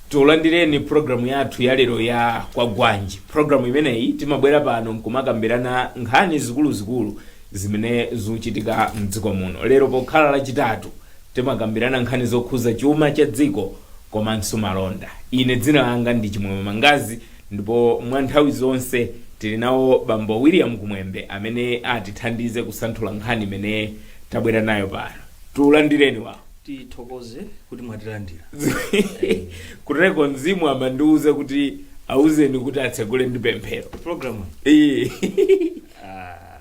tulandireni programu yathu yalero ya kwagwanji programu imeneyi timabwera pano nkumakambirana nkhani zikuluzikulu zimene zikuchitika mdziko muno lero pokhala lachitatu timakambirana nkhani zokhuza chuma cha dziko komanso malonda ine dzina langa ndi chimwemwe mangazi Ndipo mwa nthawi zonse tili nawo Bambo William Kumwembe amene atithandize kusanthula nkhani imene tabwera nayo pano. Tulandireni wawo. tithokoze kuti mwatilandira Kuteko mzimu amandiuza kuti auzeni kuti atsegule ndi pemphero. programu Ee.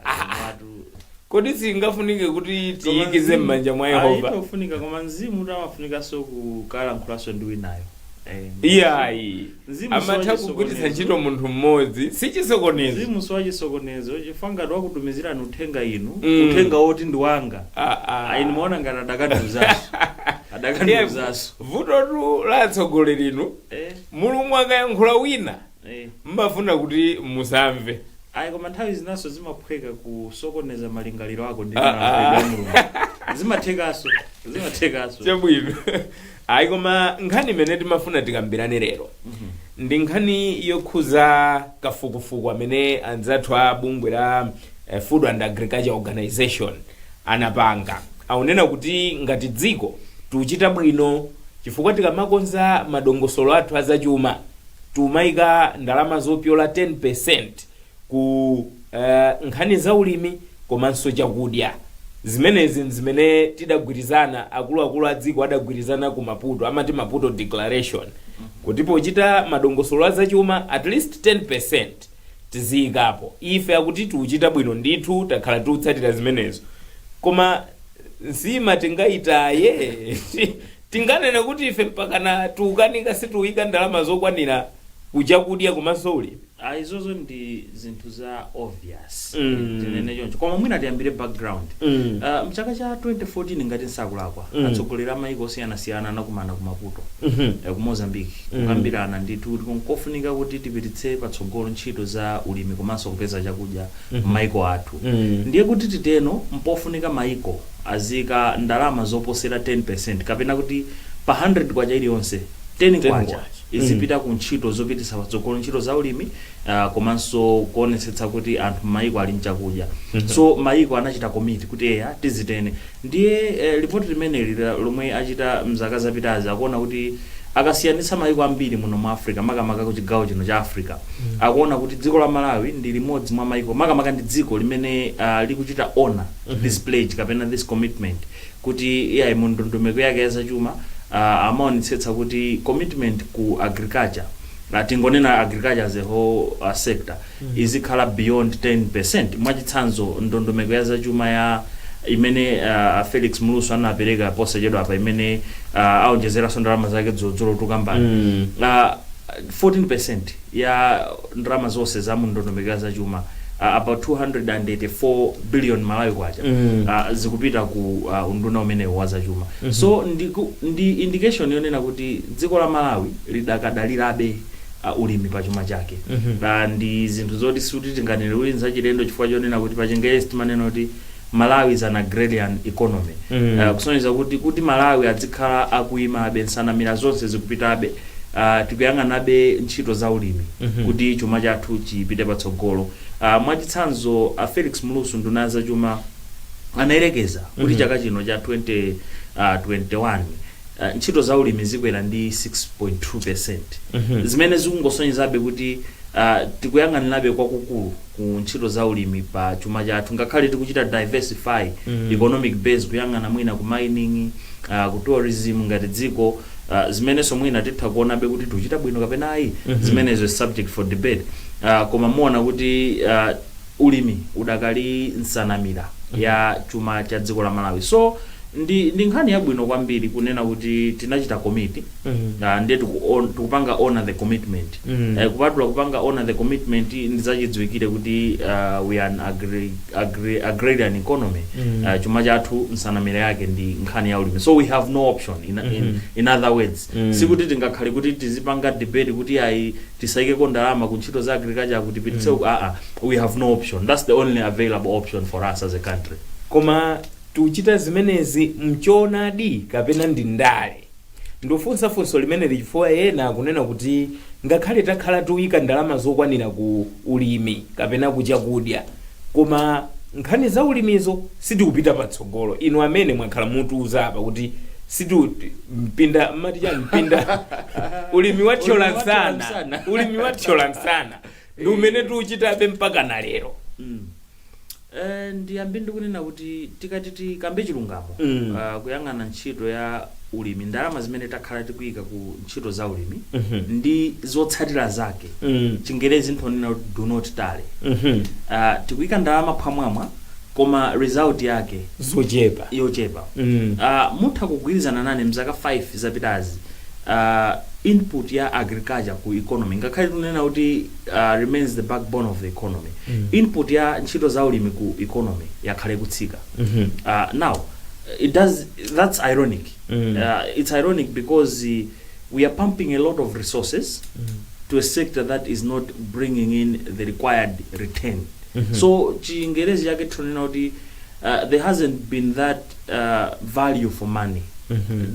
ah, watu kodi singafunike kuti Koma tiyikize m'manja mwa Ah, yehova imafunika koma mzimu kuti amafunikanso kukalankhulaso ndi winayo Eh, iyayi Mzimu amatha siwachisokonezo. kugwiritsa ntchito munthu mmodzi si chisokonezo mzimu siwachisokonezo chifukwa ngati wakutumizirani uthenga inu Mm. uthenga woti ndi wanga Ah, ah. ayi ndimaona ngati adakandiuzaso adakandiuzaso vutotu la atsogolerinu Eh. mulungu akayankhula wina Eh. mmafuna kuti musamve ayi koma nthawi zinanso zimaphweka kusokoneza malingaliro ako ndi Ah, malankhulidwe ah. a mulungu zimathekanso zimathekanso chabwino ayi koma nkhani imene timafuna tikambirane lero ndi nkhani yokhuza kafukufuku amene anzathu a bungwe la eh, food and agriculture organization anapanga akunena kuti ngati dziko tikuchita bwino chifukwa tikamakonza madongosolo athu azachuma tiumaika ndalama zopyola 10% ku eh, nkhani za ulimi komanso chakudya zimenezi nzimene tidagwirizana akuluakulu a dziko adagwirizana ku maputo amati maputo declaration kuti pochita madongosolo a zachuma at least 10% tiziyikapo ife akuti tiuchita bwino ndithu takhala tiutsatira zimenezo koma nsima tingayitaye Tinganene kuti ife mpakana tiukanika sitiuika ndalama zokwanira ku chakudya komanso ulimi? Ah, izozo ndi zinthu za obvious Mm. tinene choncho koma mwina tiyambire background Mm. Ah, mchaka cha 2014 ngati nsakulakwa Mm. atsogoleri a mayiko osiyanasiyana anakumana ku maputo Mhm. eh, ku mozambique Mm. kukambirana ndithu kuti nkofunika kuti tipititse patsogolo ntchito za ulimi komanso kupeza chakudya Mhm. m'mayiko athu Mm. ndiye kuti titero mpofunika mayiko aziika ndalama zoposera 10% kapena kuti pa K100 iliyonse, K10 izipita ku ntchito zopititsa patsogolo ntchito za ulimi komanso kuonetsetsa kuti anthu m'mayiko ali ndi chakudya. So mayiko anachita commit kuti eya tizitero. Ndiye lipoti limeneli lomwe achita m'zaka zapitazi akuona kuti akasiyanitsa mayiko ambiri muno mu Africa makamaka kuchigawo chino cha Africa, akuona kuti dziko la Malawi ndi limodzi mwa mayiko, makamaka ndi dziko limene likuchita honor. this pledge kapena this commitment kuti iyayi mu ndondomeko yake ya zachuma uh, amaonetsetsa kuti commitment ku agriculture uh, tingonena agriculture as a whole uh, sector izikhala beyond 10% mwachitsanzo ndondomeko ya zachuma ya imene uh, felix mlusu anapereka posachedwa apa imene uh, aonjezeranso ndalama zake dzulodzulo tikambeni Mm. uh, 14% ya ndalama zonse za mu ndondomeko ya zachuma ah, about 284 billion malawi kwacha ah, zikupita ku ah, unduna umenewu wa zachuma so ndi, ku- ndi indication yonena kuti dziko la malawi lidakadalirabe uh, ulimi pa chuma chake uh, ndi zinthu zoti sikuti tinganene kuti nzachilendo chifukwa chonena kuti pachingerezi timanena kuti malawi is an agrarian economy uh, kusonyeza kuti kuti malawi azikhala akuyimabe nsanamira zonse zikupitabe uh, tikuyang'anabe ntchito za ulimi mm -hmm. kuti chuma chathu chipite patsogolo uh, mwachitsanzo uh, felix mlusu nduna ya zachuma anayerekeza kuti mm -hmm. chaka chino cha 20, uh, 21 uh, ntchito za ulimi zikwera ndi 6.2 percent mm -hmm. zimene zikungosonyezabe kuti uh, tikuyang'anirabe kwakukulu ku ntchito za ulimi pa chuma chathu ngakhale tikuchita diversify mm -hmm. economic base kuyang'ana mwina ku mining uh, ku tourism ngati dziko ah, zimenenso mwina titha kuonabe kuti tuchita bwino kapena ayi zimenezo is subject for debate Ah, koma muona kuti ah, ulimi udakali nsanamira ya chuma cha dziko la malawi so ndi, ndi nkhani yabwino kwambiri kunena kuti tinachita commit Ah, ndiye tikuon- tikupanga honor the commitment Eh, kupatula kupanga honor the commitment ndizachidziwikire kuti ah, we are an agri agri agrarian economy Mm. uh, chuma chathu nsanamira yake ndi nkhani ya ulimi so we have no option in, in, Mhm. in other words Mm. sikuti tingakhale kuti tizipanga debate kuti ayi tisaikeko ndalama ku ntchito za agriculture kuti tipititse Mm. uku aa we have no option that's the only available option for us as a country koma tiuchita zimenezi mchoonadi kapena ndi ndale Ndikufunsa funso limeneli chifukwa ena akunena kuti ngakhale takhala tiuika ndalama zokwanira ku ulimi kapena ku chakudya koma nkhani za ulimizo sitikupita patsogolo. Inu amene mwakhala mukutiuza apa kuti situ mpinda mmati chani mpinda ulimi wathyola nsana ulimi wathyola nsana ndi umene tiuchitabe mpakana lero. Eh, ndiyambe ndikunena kuti tikati tikambe chilungamo Mm. ah, kuyang'ana ntchito ya ulimi ndalama zimene takhala tikuyika ku ntchito za ulimi Mhm. ndi zotsatira zake Mm. chingerezi nthonena kuti do not tally Mhm. Ah, tikuyika ndalama phwamwamwa koma result yake zochepa yochepa Mm. Ah, mutha kugwirizana nane mzaka 5 zapitazi ah, input ya agriculture ku economy ngakhale tunena kuti remains the backbone of the economy input ya ntchito za ulimi ku economy yakhala ikutsika uh, now it does that's ironic uh, it's ironic because uh, we are pumping a lot of resources to a sector that is not bringing in the required return so chingerezi chake tinanena kuti uh, there hasn't been that value for money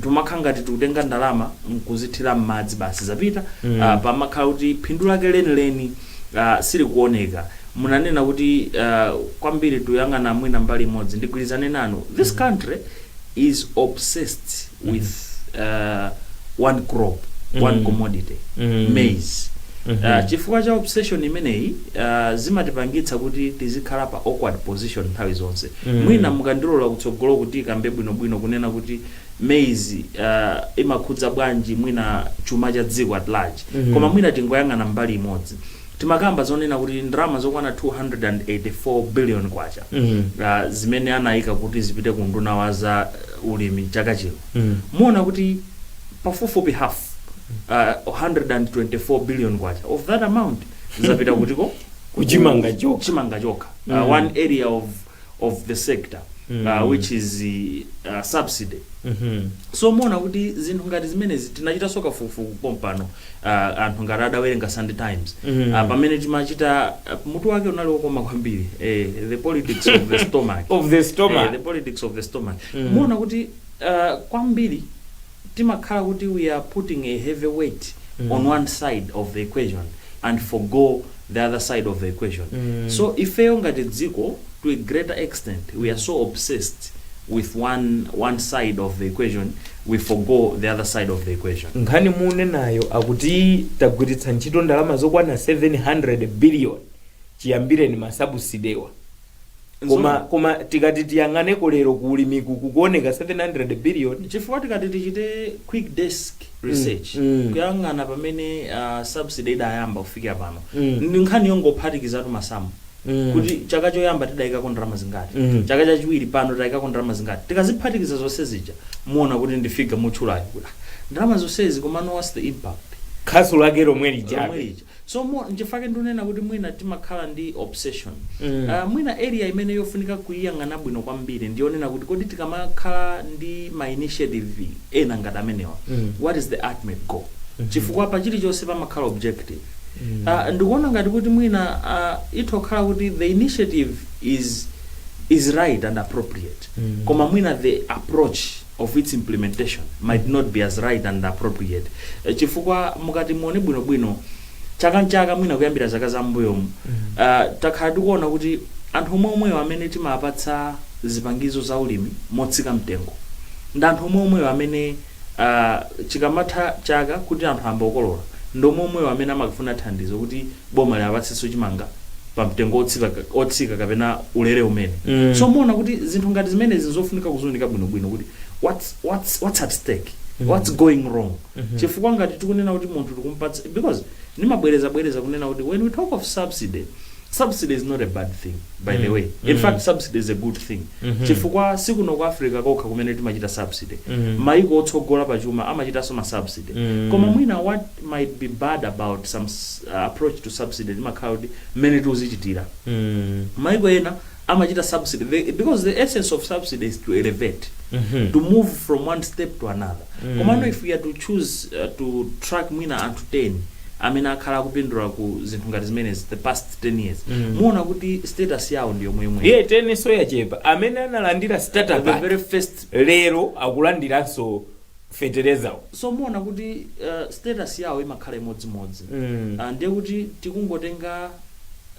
timakhala ngati tikutenga ndalama nkuzithira m'madzi basi zapita uh, pamakhala kuti phindu lake lenileni uh, silikuoneka munanena kuti uh, kwambiri tuyang'ana mwina mbali imodzi ndigwirizane nanu this country is obsessed with uh, one crop one commodity Mm. maize Uh, chifukwa cha obsession imeneyi uh, zimatipangitsa kuti tizikhala pa awkward position nthawi zonse Mm. mwina mukandilola kutsogolo kuti tikambe bwinobwino kunena kuti maize uh, imakhudza bwanji mwina chuma cha dziko at large Mhm. koma mwina tingoyang'ana mbali imodzi Timakamba zonena kuti ndalama zokwana K284 biliyoni zimene anaika kuti zipite ku unduna wa za ulimi chaka chino, muona kuti pafupifupi half, K124 biliyoni of that amount zapita kutiko? Ku chimanga chokha. chimanga chokha, one area of of the sector which is subsidy. So muona kuti zinthu ngati zimenezi tinachitanso kafukufuku pompano. uh, anthu ngati adawerenga sunday times mm. uh, pamene timachita uh, mutu wake unali wokoma kwambiri eh, the politics of the stomach of the stomach Eh, the politics of the stomach Mm. muona kuti uh, kwambiri timakhala kuti we are putting a heavy weight Mm. on one side of the equation and forgo the other side of the equation so ifeyo ngati dziko to a greater extent we are so obsessed with one, one side of the equation we forgo the other side of the equation nkhani munenayo yakuti tagwiritsa ntchito ndalama zokwana 700 billion chiyambireni masabusidewa koma koma tikati tiyang'aneko lero ku ulimiku kukuoneka 700 billion chifukwa tikati tichite quick desk research mm. kuyang'ana pamene uh, subsidy idayamba kufikira pano Mm. ndi nkhani yongophatikizatu masamu Mm. kuti chaka choyamba tidayikako ndalama zingati Mm. chaka chachiwiri pano tidayikako ndalama zingati tikaziphatikiza zonse zija muona kuti ndi figure mutchulayo kuti ah, ndalama zonsezi komano what's the impact khasu lake lomwe lijabe Lomwe lija. So nchifukwa chake ndunena kuti mwina timakhala ndi obsession ah mwina area imene yofunika kuiyang'ana bwino kwambiri ndiyonena kuti kodi tikamakhala ndi ma initiative ena ngati amenewa what is the ultimate goal chifukwa pa chilichonse pamakhala objective ah ndikuona ngati kuti mwina ah itha kukhala kuti the initiative is is right and appropriate koma mwina the approach of its implementation might not be as right and appropriate Eh, chifukwa mukati muone bwinobwino chaka nchaka mwina kuyambira zaka za mbuyomu ah, takhala tikuona kuti anthu omwe omwewo amene timapatsa zipangizo za ulimi motsika mtengo ndi anthu omwe omwewo amene ah, chikamatha chaka kuti anthu ayamba kukolola ndi omwe omwewo amene amakafuna thandizo kuti boma liwapatsenso chimanga pa mtengo otsika, otsika kapena ulele umene mm. so muona kuti zinthu ngati zimenezi nzofunika kuziwunika bwinobwino kuti what's, what's, what's at stake mm. what's going wrong mm -hmm. chifukwa ngati tikunena kuti munthu tikumpatsa because nimabwereza bwereza kunena kuti when we talk of subsidy subsidy is not a bad thing by mm. the way in mm. fact subsidy is a good thing mm -hmm. chifukwa sikuno ku africa kokha kumene timachita subsidy mm. maiko otsogola pachuma amachitanso ma subsidy mm. koma mwina what it might be bad about some approach to subsidy limakhala kuti mmene tiuzichitira maiko ena amachita subsidy the, because the essence of subsidy is to elevate to move from one step to another komano if we are to choose uh, to track mwina anthu 10 amene akhala akupindula ku zinthu ngati zimenezi the past 10 years muona kuti status yawo ndi yomweyomweyo teninso yachepa amene analandira startup the very first lero akulandiranso fetelezawo so muona kuti uh, status yawo imakhala imodzimodzi Mm. uh, ndiye kuti tikungotenga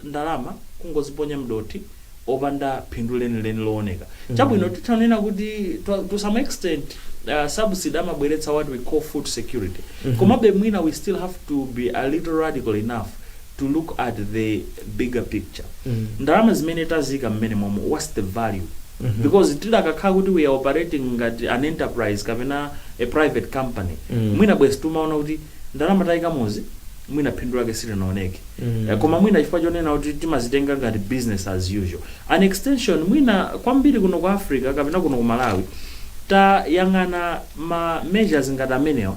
ndalama kungoziponya mdothi opanda phindu lenileni looneka chabwino titanena kuti to, to some extent uh, subsidy amabweretsa what we call food security komabe mwina we still have to be a little radical enough to look at the bigger picture ndalama zimene taziika mmenemomo what's the value because tidakakhala kuti we are operating ngati an enterprise kapena a private company mwina bwenzi timaona kuti ndalama taikamozi mwina phindu lake silinaoneke Eh, koma mwina chifukwa chonena kuti timazitenga ngati business as usual an extension mwina kwambiri kuno ku africa kapena kuno ku malawi tayang'ana ma measures ngati amenewa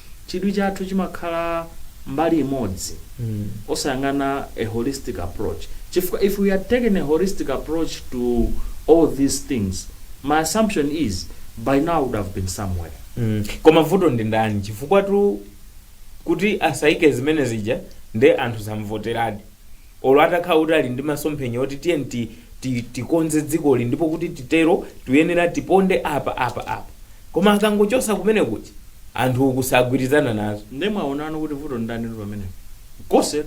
chidwi chathu chimakhala mbali imodzi osayang'ana a holistic approach chifukwa if we had taken a holistic approach to all these things my assumption is by now we would have been somewhere. Koma vuto ndi ndani? Chifukwatu kuti asaike zimene zija nde anthu samvoteradi. olo atakhala kuti ali ndi masomphenya oti tiyeni ti, ti, tikonze dzikoli ndipo kuti titero tuyenera tiponde apa apa apa koma akangochosa kumene kuja anthu uku sagwirizana nazo nde mwaonano kuti vuto ndani ndi pamenepo konse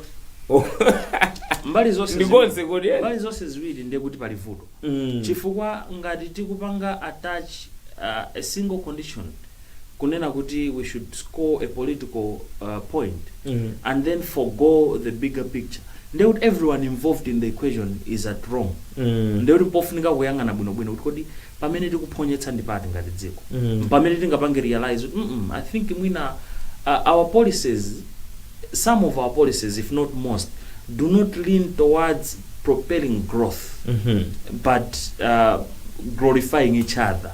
mbali zonse Ndi ziwiri- konse kodi, eh? mbali zonse ziwiri ndiye kuti pali vuto Mm. chifukwa ngati tikupanga attach uh, a single condition kunena kuti we should score a political uh, point and then forgo the bigger picture ndiye kuti everyone involved in the equation is at wrong ndiye kuti pofunika kuyang'ana bwinobwino kuti kodi pamene tikuphonyetsa ndi pati ngati dziko pamene tingapange realize kuti mm -mm, i think mwina uh, our policies some of our policies if not most do not lean towards propelling growth but uh, glorifying each other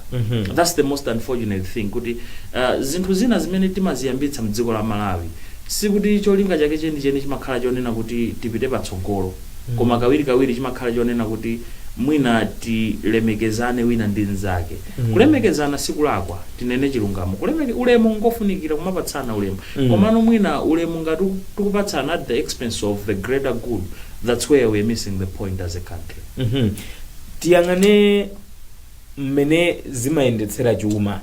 that's the most unfortunate thing kuti uh, zinthu zina zimene timaziyambitsa mdziko la malawi sikuti cholinga chake chenicheni chimakhala chonena kuti tipite patsogolo koma kawirikawiri chimakhala chonena kuti mwina tilemekezane wina ndi mnzake kulemekezana sikulakwa tinene chilungamo kulemeke ulemu ngofunikira kumapatsana ulemu mm. komano mwina ulemu ngati tikupatsana at the expense of the greater good thats where we're missing the point as a country mm -hmm. tiyang'ane mmene timayendetsera chuma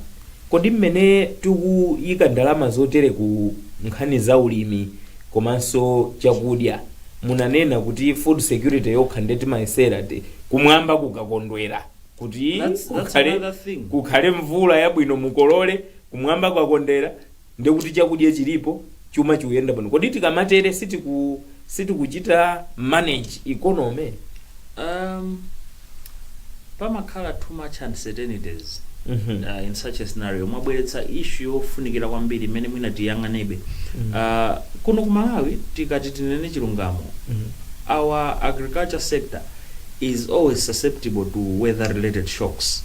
kodi mmene tikuyika ndalama zotere ku nkhani za ulimi komanso chakudya munanena kuti food security yokha nde timayesera kuti kumwamba kukakondwera kuti That's- that's kukhale, another thing. kukhale mvula yabwino mukolole kumwamba kwakondera Ndiye kuti chakudya chilipo, chuma chikuyenda bwino. Kodi tikamatere sitiku sitikuchita manage economy? Um, pamakhala too much uncertainties uh, in such a scenario mwabweretsa issue yofunikira kwambiri imene mwina tiyang'anebe uh, kuno ku malawi tikati tinene chilungamo our agriculture sector is always susceptible to weather related shocks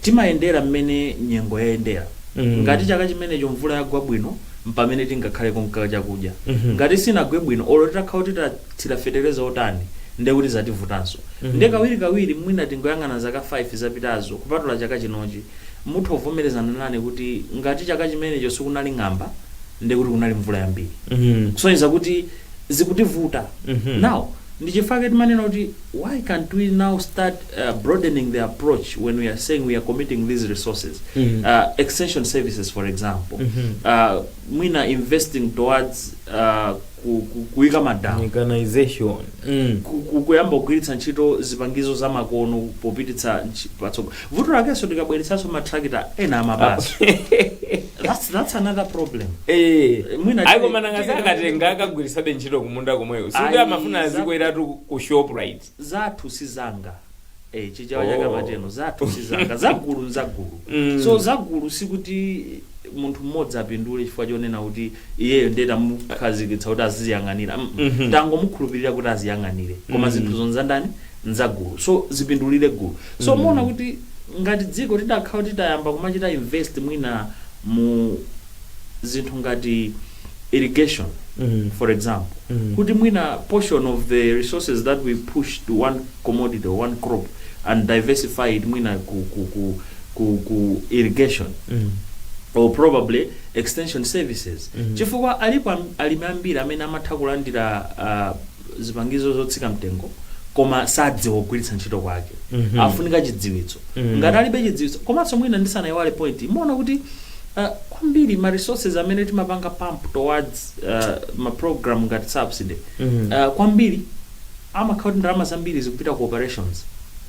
timayendera mmene nyengo yayendera Ngati chaka chimenecho mvula yagwa bwino mpamene tingakhaleko nchakudya. Ngati sinagwe bwino olo titakhala kuti tathira fetereza otani ndiye kuti zativutanso. Ndiye kawirikawiri mwina tingoyang'ana zaka 5 zapitazo kupatula chaka chinochi. Mutha kuvomerezana nane kuti ngati chaka chimenecho sikunali ng'amba ndiye kuti kunali mvula yambiri kusonyeza kuti zikutivuta. Now. Ndi chifukwa chake timanena kuti why can't we now start uh, broadening the approach when we are saying we are committing these resources uh, extension services for example uh, mwina investing towards uh, ku- ku- kuika madamu mechanization mm. ku- ku- kuyamba kugwiritsa ntchito zipangizo zamakono popititsa ntchi- patsogolo Vuto lakenso tikabweretsanso ma tractor ena amaba aa. That's that's another problem. Eh, Mwina ayi tili- koma nanga tili- akatenga akagwiritsabe ntchito kumunda komweko sikuti Ayi, amafuna za- azikweratu ku shoprite Zathu sizanga. Eh, chichawa Oh. chikamateno zathu sizanga. Zagulu nzagulu. Mm. So zagulu sikuti munthu mmodzi apindule chifukwa chonena kuti iyeyo ndiye tamukhazikitsa kuti aziziyang'anira mm -mm. tangomukhulupirira kuti aziyang'anire koma mm. zinthuzo nzandani nzagulu so zipindulire gulu so mm. muona kuti ngati dziko tidakhala kuti tayamba kumachita invest mwina mu zinthu ngati irrigation mm. for example mm. kuti mwina portion of the resources that we push to one commodity or one crop and diversify it mwina ku, ku, ku ku, ku irrigation or probably extension services chifukwa alipo am- alimi ambiri amene amatha kulandira ah, zipangizo zotsika mtengo koma sadziwa kugwiritsa ntchito kwake afunika chidziwitso ngati alibe chidziwitso komanso mwina ndisanayiwale point imaona kuti ah, kwambiri ma resources amene timapanga pump towards ah, ma program ngati subsidy ah, kwambiri amakhala kuti ndalama zambiri zikupita ku operations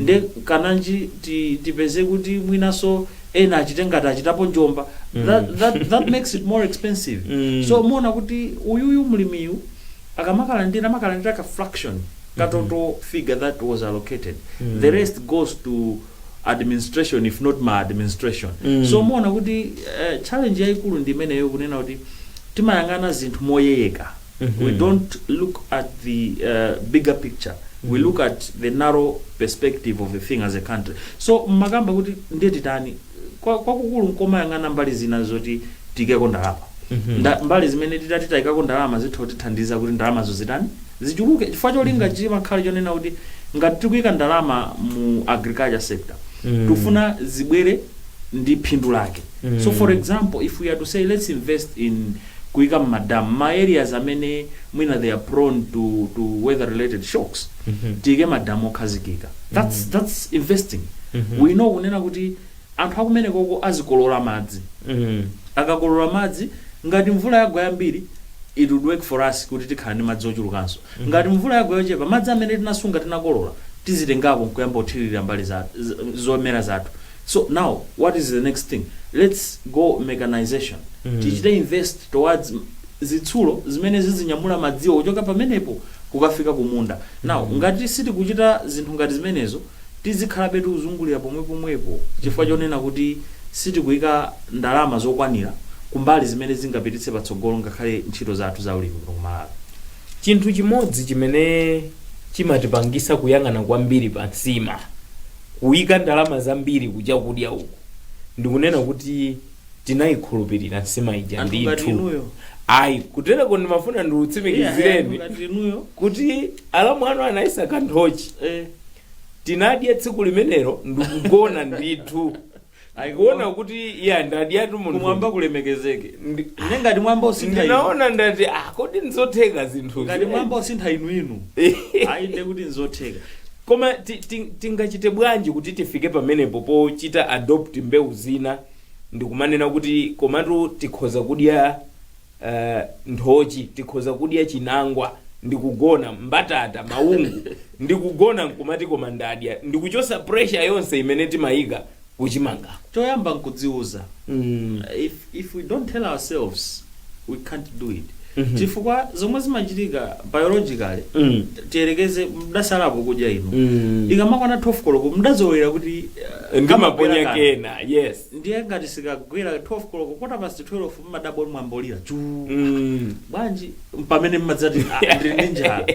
nde kananji ti, tipeze kuti mwinaso ena achite ngati achitapo chinyengo that, that, that makes it more expensive so muona kuti uyuyu mlimiyu akamakalandira amakalandira ka fraction ka total figure that was allocated the rest goes to administration if not maladministration so muona kuti eh, challenge yayikulu ndi imeneyo kunena kuti timayang'ana zinthu moyeyeka we don't look at the uh, bigger picture we look at the narrow perspective of the thing as a country so mmakamba kuti ndiye titani Kwa- kwakukulu nkomayang'ana mbali zina zoti tiikeko ndalama Nda- mbali zimene titati tayikako ndalama zitha kutithandiza kuti ndalamazo zitani zichuluke chifukwa cholinga chimakhala chonena kuti ngati tikuyika ndalama mu agriculture sector Mm. tufuna zibwere ndi phindu lake so for example if we are to say let's invest in kuika ma dam mma areas amene mwina they are prone to to weather related shocks tiike ma dam okhazikika that's that's investing we know kunena kuti anthu akumenekoko azikolola madzi akakolola madzi ngati mvula yagwa yambiri it would work for us kuti tikhala ndi madzi ochulukanso ngati mvula yagwa yochepa madzi amene tinasunga tinakolola tizitengako nkuyamba kuthirira mbali za z- zomera zathu so now what is the next thing lets go mechanisation tichite invest towards zitsulo zimene zizinyamula madziwo kuchoka pamenepo kukafika kumunda now ngati sitikuchita zinthu ngati zimenezo tizikhalabe tikuzungulira pomwepomwepo chifukwa chonena kuti sitikuyika ndalama zokwanira kumbali zimene zingapititse patsogolo ngakhale ntchito zathu za ulimi kuno ku Malawi. chinthu chimodzi chimene chimatipangisa kuyang'ana kwambiri pa nsima Kuika ndalama zambiri ku chakudya uku ndikunena kuti tinayikhulupilira nsima ija Anthu ngati ndithu inuyo. ayi kutereko ndimafuna Iya, ndikutsimikizireni anthu ngati inuyo. kuti alamu anu anayisaka nthochi Eh. tinadya tsiku limenelo ndikugona ndithu ndikuona kuti ya ndadyatu munthu kumwamba kulemekezeke Ndi- ne ngati mwayamba usintha inu ndinaona ndati ah kodi nzotheka zinthu ngati mwayamba usintha inu inu ayi nde kuti nzotheka koma ti- ti- tingachite bwanji kuti tifike pamenepo pochita adopt mbewu zina ndikumanena kuti komatu tikhoza kudya eh, nthochi tikhoza kudya chinangwa ndikugona mbatata maungu ndikugona nkumati koma ndadya ndikuchotsa pressure yonse imene timayika kuchimanga choyamba nkudziuza mm. if, if we don't tell ourselves we can't do it chifukwa zomwe zimachitika biologically Mm. tiyerekeze mdasalapo kudya inu Mm. ikamakwana 12 koloko mdazolowera kuti uh, ndimaponya kamagwera kena. kena yes ndiye ngati sikagwera 12 koloko kota past 12 mmadabwa kuti mmimba mwalira chu Mm. bwanji pamene mmadzati "Ah, ndili ndi njala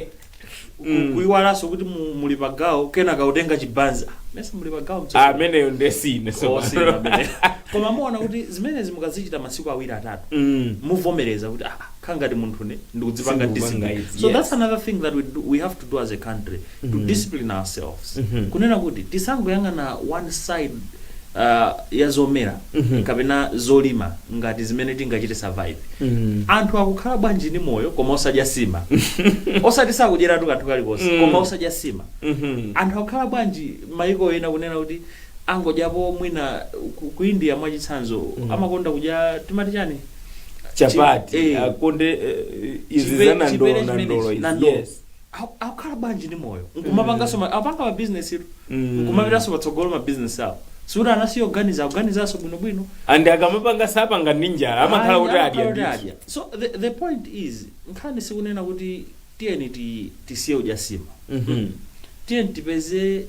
Ku- kuiwalanso kuti mu- muli pagawo kena kautenga chibanzi Ah, mesa muli pagawo mtsogoleri. ameneyo ndesine Oh, si amene. koma muona kuti zimenezi mukazichita masiku awiri atatu muvomereza kuti ah, nkhani ngati munthu ine ndikudzipanga Sindikupanga discipline izi, so yes. that's another thing that we, do, we have to do as a country to discipline ourselves kunena kuti tisangoyang'ana one side uh, ya zomera kapena zolima ngati zimene tingachite survive anthu akukhala bwanji ndi moyo koma osadya sima osati sakudyeratu kanthu kalikonse koma osadya sima anthu akukhala bwanji maiko ena kunena kuti angodyapo mwina ku, ku india mwachitsanzo amakonda kudya timati chani chapati Eh. akonda eh, izi Chipe- za chipere nandolo chimenechi, nandolo izi nandolo. yes Aku- akukhala bwanji ndi moyo nkumapanganso ma- apanga mabizinesitu nkumapitanso patsogolo mabizinesi awo sikuti anasiya kuganiza akuganizanso bwinobwino and akamapanga sapanga ndi njala amakhala kuti Ayi, adya amakhala ndithu. kuti adya. so the, the point is nkhani sikunena kuti tiyeni ti- tisiye udya sima Mhm. tiyeni tipeze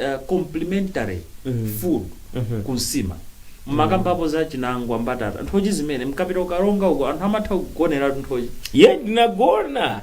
uh, complementary Mhm. food Mhm. ku nsima mmakambapo za chinangwa mbatata nthochi zimene mkapita ku Karonga uko anthu amatha kugonera nthochi ye ndinagona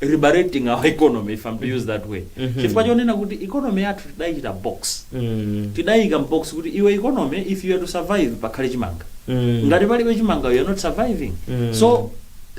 liberating our economy if I'm to use that word chifukwa chonena kuti economy yathu tidayiika mbox Mm. tidayika mbox kuti iwe economy if you are to survive pakhale chimanga Mm. ngati palibe chimanga you are not surviving Mm. so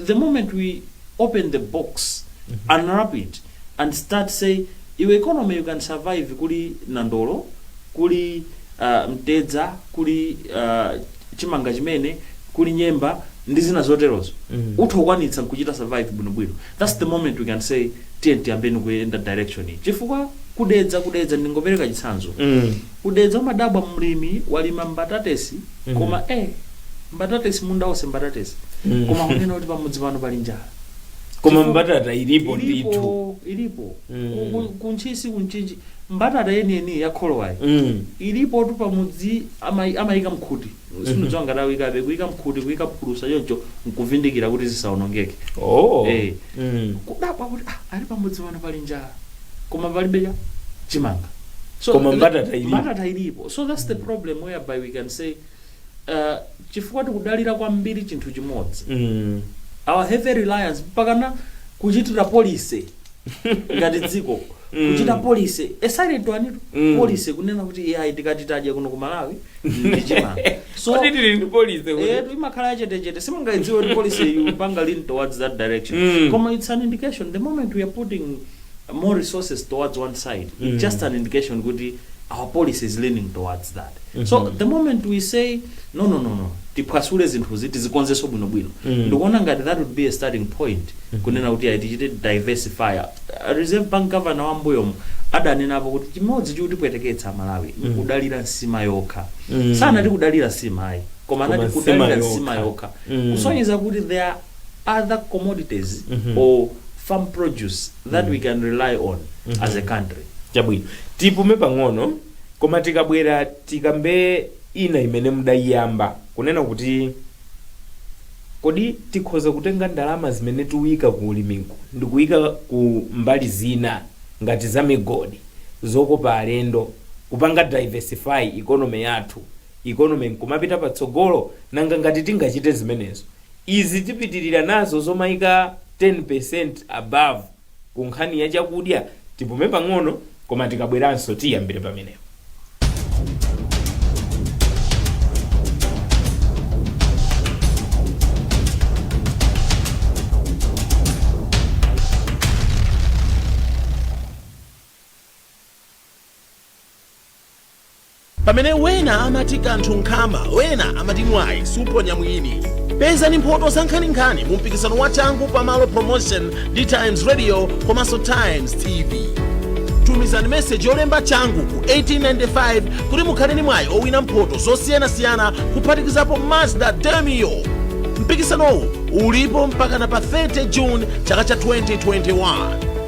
the moment we open the box unwrap it and start say iwe economy you can survive kuli nandolo kuli uh, mtedza kuli uh, chimanga chimene kuli nyemba ndi zina zoterozo utha kukwanitsa nkuchita survive bwino bwino that's the moment we can say tiyeni tiyambeni kuyenda direction iyi chifukwa ku Dedza ku Dedza ndingopereka chitsanzo ku Dedza umadabwa mlimi walima mbatatesi koma eh mbatatesi munda wonse mbatatesi koma kunena kuti pamudzi pano pali njala koma Chifukwa- mbatata ilipo ndithu ilipo ilipo Mm. Ku- ku- ku Ntchisi ku Mchinji Mbatata yeniyeniyi ya kholowayi ilipotu pamudzi amayika mkhuti sindidziwa ngati akuyikabe kuyika mkhuti kuyika phulusa choncho nkuvindikira kuti zisawonongeke ee kudabwa kuti ah ali pamudzi pano pali njala koma palibe chimanga so Koma mbatata ilipo. mbatata ilipo so that's the problem whereby we can say uh, chifukwa tikudalira kwambiri chinthu chimodzi our heavy reliance mpakana kuchitira policy ngati dziko kuchita policy ya silent one tu Mm. policy kunena kuti iyayi tikati tadya kuno ku malawi ndi chimanga so Kodi tili ndi policy kuti? eh imakhala yachetechete simungaidziwe kuti policy ikupanga lean towards that direction Mm. koma it's an indication the moment we are putting more resources towards one side Mm. it's just an indication kuti our policy is leaning towards that so the moment we say no no no no tiphwasule zinthuzi tizikonzeso bwinobwino ndikuona ngati that would be a starting point kunena kuti ayi tichite diversify Uh, reserve bank governor wa mbuyomo adanenapo kuti chimodzi chikutipweteketsa amalawi ndikudalira nsima yokha sanati kudalira nsima ayi koma Koma anati nsima kudalira nsima yokha. yokha Mm. kusonyeza kuti there are other commodities or farm produce that we can rely on as a country chabwino tipume pang'ono Koma tikabwera tikambe ina imene mudaiyamba, kunena kuti kodi tikhoza kutenga ndalama zimene tiuika ku ulimiko ndikuika ku mbali zina ngati za migodi, zokopa alendo, kupanga diversify economy yathu, economy nkumapita patsogolo? Nanga ngati tingachite zimenezo, izi tipitilira nazo zomaika 10% above? Ku nkhani ya chakudya, tipume pang'ono koma tikabweranso tiyambire pamenepo. Pamene wena amati kanthu nkhama, wena amati mwayi suponya mwini. Pezani mphoto zankhaninkhani mu mpikisano wa Changu Pamalo Promotion ndi Times Radio komanso Times TV. Tumizani meseji yolemba changu ku 1895 kuti mukhale ndi mwayi owina mphoto zosiyanasiyana kuphatikizapo Mazda Demio. Mpikisanowu ulipo mpakana pa 30 June chaka cha 2021.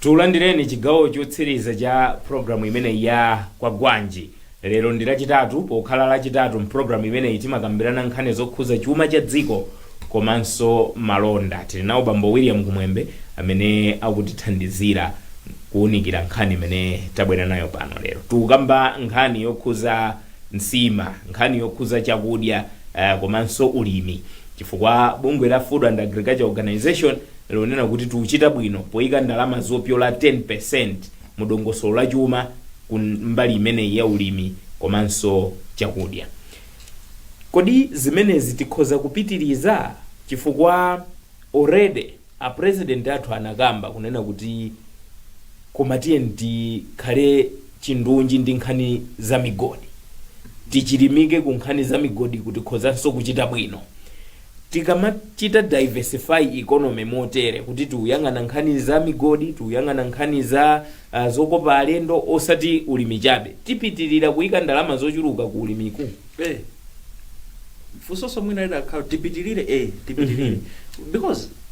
Tulandireni chigawo chotsiriza cha programu imeneyi ya Kwagwanji. Lero ndi Lachitatu. Pokhala Lachitatu, m'programu imeneyi timakambirana nkhani zokhuza chuma cha dziko komanso malonda. Tili nawo Bambo William Kumwembe amene akutithandizira kuunikira nkhani imene tabwera nayo pano lero. Tikukamba nkhani yokhuza nsima, nkhani yokhuza chakudya komanso ulimi chifukwa bungwe la Food and Agriculture Organization, lonena kuti tiuchita bwino poika ndalama zopyola 10% mu dongosolo la chuma ku mbali imeneyi ya ulimi komanso chakudya. Kodi zimenezi tikhoza kupitiliza? Chifukwa already a President athu anakamba kunena kuti koma tiyeni tikhale chindunji ndi nkhani za migodi, tichilimike ku nkhani za migodiku tikhozanso kuchita bwino. Tikamachita diversify economy motere kuti tiuyang'ana nkhani za migodi, tiuyang'ana nkhani za uh, zokopa alendo osati ulimi chabe, tipitirira kuika ndalama zochuluka ku ulimiku. Eh. Funsolo mwina lidakhala tipitirire eh tipitirire. Because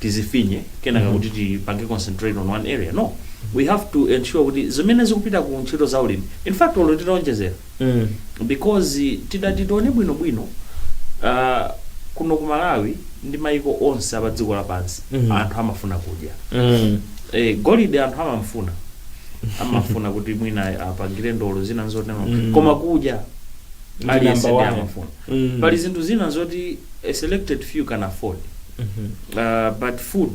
tizifinye kenaka mm. kuti tipange concentrate on one area no we have to ensure kuti zimene zikupita ku ntchito za ulimi in fact olo titaonjezera mm. because tidati tione bwinobwino uh, kuno ku malawi ndi maiko onse apa dziko lapansi Mhm. anthu amafuna kudya Mm. eh, golide anthu amamfuna amafuna kuti mwina apangire ndolo zina ndi zotero Mm. koma kudya ndi Aliyense number ndi one. amafuna. Mm. pali zinthu zina zoti a selected few can afford uh, but food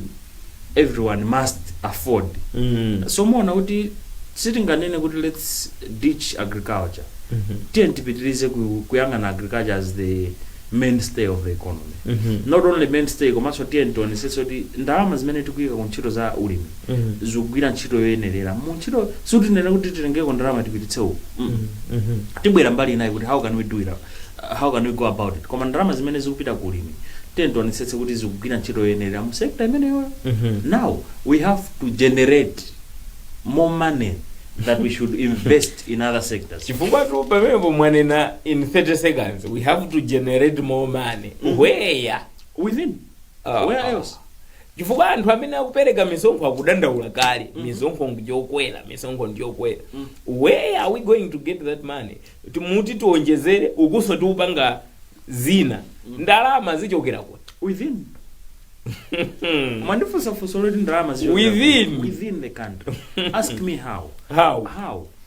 everyone must afford Mm. so muona kuti sitinganene kuti let's ditch agriculture Mhm. tiyeni tipitirize ku- kuyang'ana agriculture as the mainstay of the economy Mhm. not only mainstay komanso tiyeni tionesese kuti ndalama zimene tikuyika ku ntchito za ulimi mm. zikugwira ntchito yoyenerera mu ntchito sitinene kuti titengeko ndalama tipititse uku mm. Mhm. tibwera mbali inayo kuti how can we do it how can we go about it koma ndalama zimene zikupita ku ulimi tiyeni tionetsetse kuti zikugwira ntchito yoyenerera mu sector imeneyoyo Mhm. now we have to generate more money that we should invest in other sectors chifukwatu pamenepo mwanena in 30 seconds we have to generate more money Mhm. where within Ah, where ah. else chifukwa anthu amene akupereka misonkho akudandaula kale misonkho ndiyokwera misonkho ndiyokwera where are we going to get that money timuti tionjezere ukunso tiupanga zina ndalama zichokera kuti within mwandifunsa funso loti ndalama zichokera Within. ku- within the country ask me how how how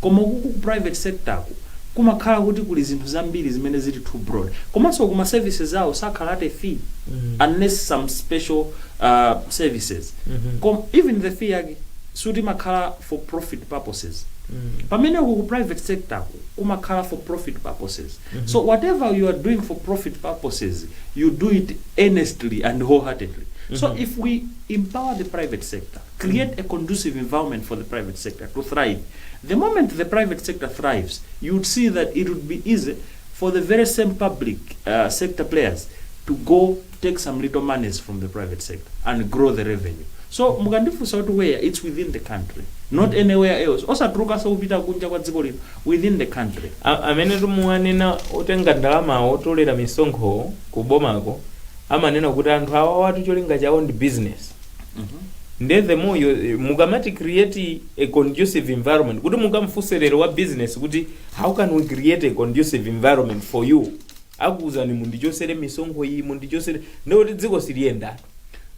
Koma ukuku ku private sector-ku kumakhala kuti kuli zinthu zambiri zimene zili too broad. Komanso uku ma services awo sakhala at a fee unless some special uh services. Koma even the fee yake sikuti imakhala for profit purposes. Pamene uku ku private sector-ku kumakhala for profit purposes. So whatever you are doing for profit purposes, you do it earnestly and wholeheartedly. So if we empower the private sector. create a conducive environment for the private sector to thrive, the moment the private sector thrives you would see that it would be easy for the very same public uh, sector players to go take some little monies from the private sector and grow the revenue so mukandifunsa where it's within the country not anywhere else osatulukanso kupita kunja kwa dziko lino within the country A- amene timuwanena otenga ndalama otolera misonkho ku bomako amanena kuti anthu awa watu cholinga chawo ndi business nde the more you- mukamati create a conducive environment kuti mukamfunse lero wa business kuti how can we create a conducive environment for you akuuzani mundichosere misonkho iyi mundichosere ndekuti dziko siliyenda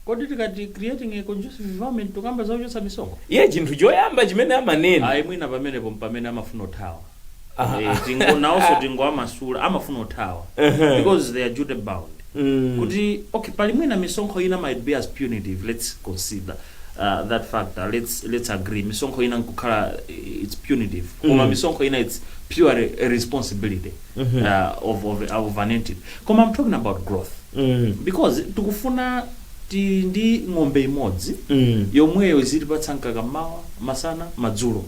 kodi tikati creating a conducive environment tukamba za kuchotsa misonkho iye chinthu choyamba chimene amanena ayi mwina pamenepo mpamene amafuna kuthawa Eh, tingo nawonso tingowamasula amafuna uthawa Ehe. because they are duty bound Mm. kuti okay pali mwina misonkho ina might be as punitive let's consider uh, that factor let's let's agree misonkho ina nkukhala eh, it's punitive koma Mm. misonkho ina it's pure re- responsibility Mhm. uh, of, of, of an entity koma i'm talking about growth Mm. because tikufuna Tili ndi ng'ombe imodzi yomweyo izitipatsa mkaka mmawa, masana, madzulo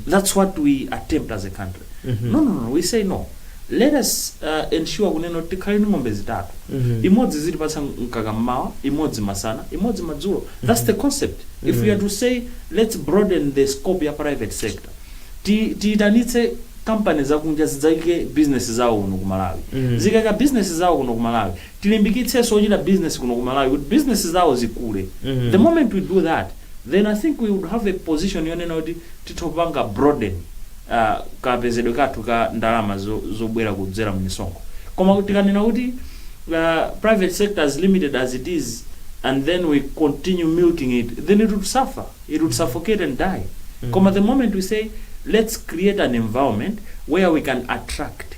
thats what we attempt as a country now now now we say no let us ensure kunena kuti tikhale ndi ng'ombe zitatu imodzi izitipatsa mkaka mmawa imodzi masana imodzi madzulo thats the concept if we are to say lets broaden the scope ya private sector tiyitanitse company zakunja zidzaike business zawo kuno ku Malawi zikaika business zawo kuno ku Malawi tilimbikitsenso ochita business kuno ku Malawi kuti business zawo zikule the moment we do that then I think we would have a position yonena kuti titha kupanga broaden uh, kapezedwe kathu ka ndalama zo, zobwera kudzera mmisonkho koma tikanena kuti uh, private sector is limited as it is and then we continue milking it then it would suffer it would suffocate and die koma the moment we say let's create an environment where we can attract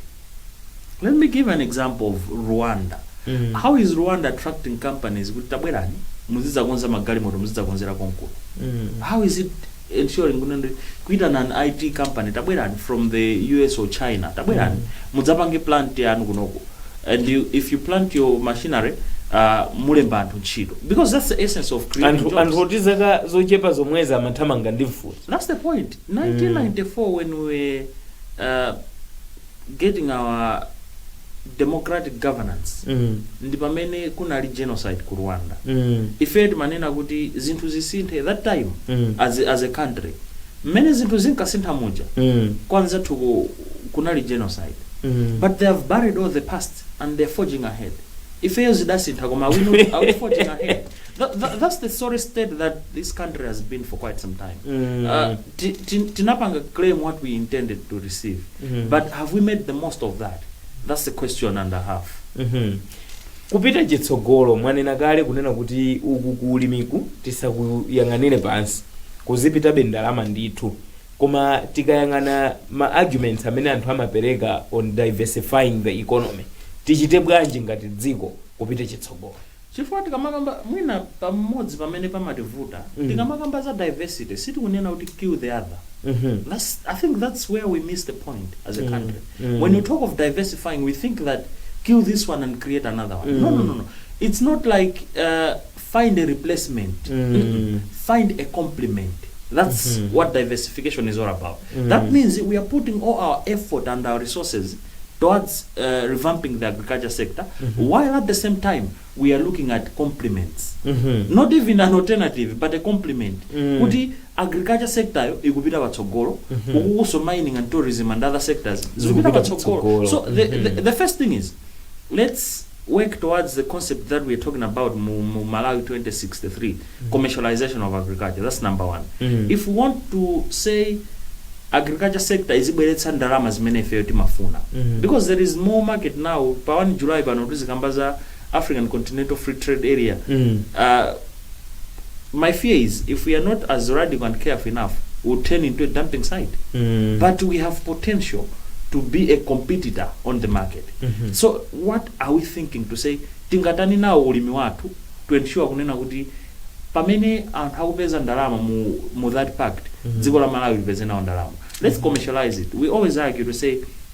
Let me give an example of Rwanda. Mm. How is Rwanda attracting companies kuti tabwerani muzidzakonza magalimoto muzidzakonzera konkuno? Mm. How is it ensuring kuti ndi- kuitana an IT company tabwerani from the US or China tabwerani mudzapange plant yanu kunoko and you, if you plant your machinery uh, mulemba anthu ntchito because that's the essence of creating jobs. anthu oti zaka zochepa zomwezi amathamanga ndi mfuti That's the point. 1994 when we were uh, getting our democratic governance Mm. ndi pamene kunali genocide ku rwanda Mm. ifeyo timanena kuti zinthu zisinthe that time Mm. as, as a country mmene zinthu zinkasintha muja Mm. kwanzathu ku- kunali genocide Mm. but they have buried all the past and they're forging ahead ifeyo zidasintha koma awino are we forging ahead Tha- tha- that's the sorry state that this country has been for quite some time Mm. uh, ti- ti- tinapanga claim what we intended to receive Mhm. but have we made the most of that that's the question and a half Mhm. kupita chitsogolo mwanena kale kunena kuti uku kuulimiku tisakuyang'anire pansi kuzipitabe ndalama ndithu koma tikayang'ana ma arguments amene anthu amapereka on diversifying the economy tichite bwanji ngati dziko kupita chitsogolo Chifukwa tikamakamba mwina pamodzi pamene pamativuta tikamakamba za diversity sitikunena kuti kill the other that's I think that's where we miss the point as a country when you talk of diversifying we think that kill this one and create another one no no no no it's not like uh, find a replacement Mm-mm. find a complement that's what diversification is all about that means we are putting all our effort and our resources towards revamping the agriculture sector while at the same time we are looking at complements not even an alternative but a complement kuti agriculture sector yo ikupita patsogolo ukukuso mining and tourism and other sectors zikupita Zikupita patsogolo patsogolo. so the, the, the first thing is let's work towards the concept that we are talking about mu mu Malawi 2063 commercialization of agriculture that's number one if we want to say agriculture sector izibweretsa ndalama zimene ifeyo timafuna because there is more market now pa 1 July pano tizikamba za African Continental Free Trade Area uh, my fear is if we are not as radical and careful enough we'll turn into a dumping site Mm. but we have potential to be a competitor on the market Mhm. so what are we thinking to say tingatani nawo ulimi wathu to ensure kunena kuti pamene anthu akupeza ndalama mu, mu that pact Mhm. dziko la malawi lipeze nawo ndalama let's commercialize it we always argue to say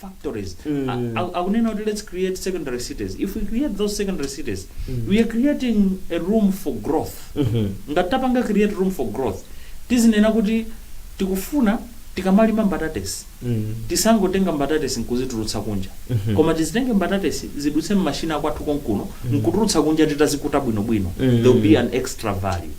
factories a- a- akunena kuti let's create secondary cities if we create those secondary cities we are creating a room for growth ngati tapanga create room for growth tizinena kuti tikufuna tikamalima mbatatesi tisangotenga mbatatesi nkuzitulutsa kunja koma tizitenge mbatatesi zidutse mmashina akwathu konkuno nkutulutsa kunja titazikuta bwinobwino there will be an extra value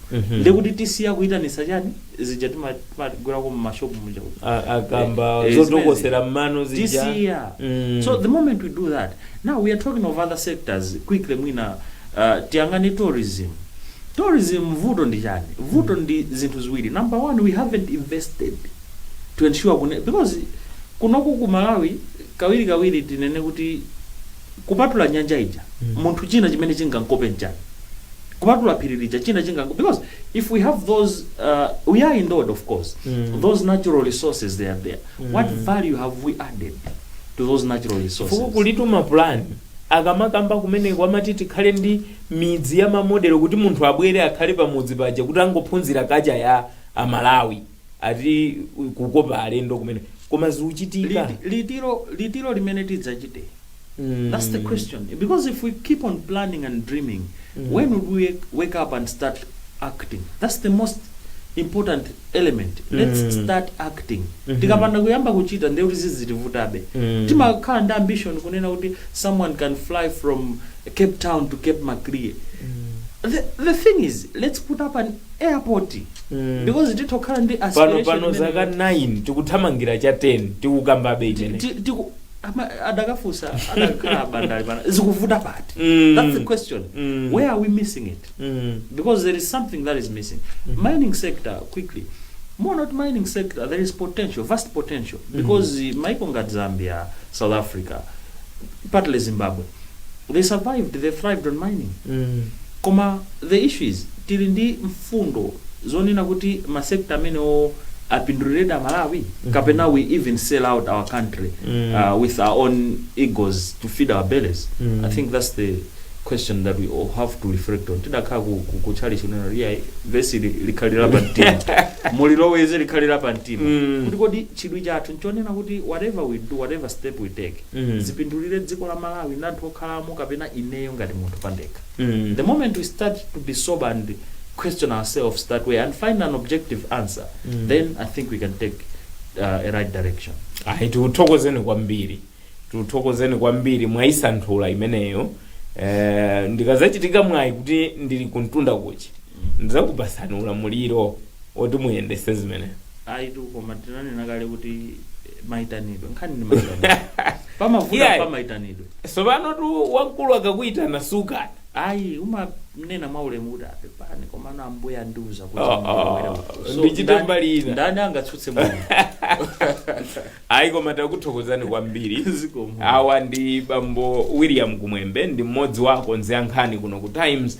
ndekuti tisiya kuyitanisa chani zija tima timagulako mma shop muja uja. A- akamba Eh, eh, zotokosera mmano zija tisiya Mm. so the moment we do that now we are talking of other sectors quickly mwina uh, tiyang'ane tourism tourism vuto ndi chani vuto ndi zinthu ziwiri number one we haven't invested to ensure kune, because kunoku ku malawi kawirikawiri tinene kuti kupatula nyanja ija munthu china chimene chingankope nchani kupatula phiri lija china chinganko because if we have those uh, we are endowed of course those natural resources they are there what value have we added to those natural resources fukwa kulitu mapulani akamakamba kumene kwamati tikhale ndi midzi ya mamodelo kuti munthu abwere akhale pamudzi paja kuti angophunzira culture ya amalawi ati u- kukopa alendo kumene koma zikuchitika Liti- litiro litiro limene tidzachite Mm. that's the question because if we keep on planning and dreaming when would we wake up and start acting that's the most important element let's Mm. start acting Mhm. tikapanda kuyamba kuchita ndiye kuti zizitivutabe Mm. timakhala ndi ambition kunena kuti someone can fly from cape town to cape maclear the, the thing is let's put up an airport Mm. because titha kukhala ndi aspiration imene- pano zaka 9 tikuthamangira cha 10 tikukambabe Ti- imene ti- tiku- ama- adakafunsa adakhala bandali pana zikuvuta pati Mm. that's the question Mm. where are we missing it Mm. because there is something that is missing mining sector quickly Monaut mining sector there is potential vast potential because mm. maiko ngati zambia south africa partly zimbabwe they survived they thrived on mining koma the issue is tili ndi mfundo zonena kuti ma sector amenewowo apinduliredi amalawi kapena we even sell out our country uh, with our own egos to feed our bellies i think that's the question that we all have to reflect on tidakhala ku, ku, ku chalichi kunena kuti yeah, vesi li- likhalira pa mtima muliloweze likhalira pa mtima kuti kodi chidwi chathu nchonena kuti whatever we do whatever step we take zipindulire dziko la Malawi ndi anthu okhalamo kapena ineyo ngati munthu pandekha. The moment we start to be sober and question ourselves that way and find an objective answer then I think we can take uh, a right direction. ayi tikuthokozeni kwambiri tikuthokozeni kwambiri mwayisanthula imeneyo eh, ndikazachita mwayi kuti ndili kumtunda kuja ndizakupasani ulamuliro oti muyendese zimene ayitu koma tinanena kale kuti eh, maitanidwe nkhani ndi maitanidwe pamavuta Yeah. pamaitanidwe tsopanotu wamkulu akakuyitana sukana ayi umanena mwa ulemu kuti a pepani komano ambuya andiuza kuti Oh, ndilowere oh, uko. So, ndichite ndani- mbali ina. ndani angatsutse munthu ayi koma takuthokozani kwambiri Zikomo. awa ndi bambo william kumwembe ndi mmodzi wa akonzi a nkhani kuno ku times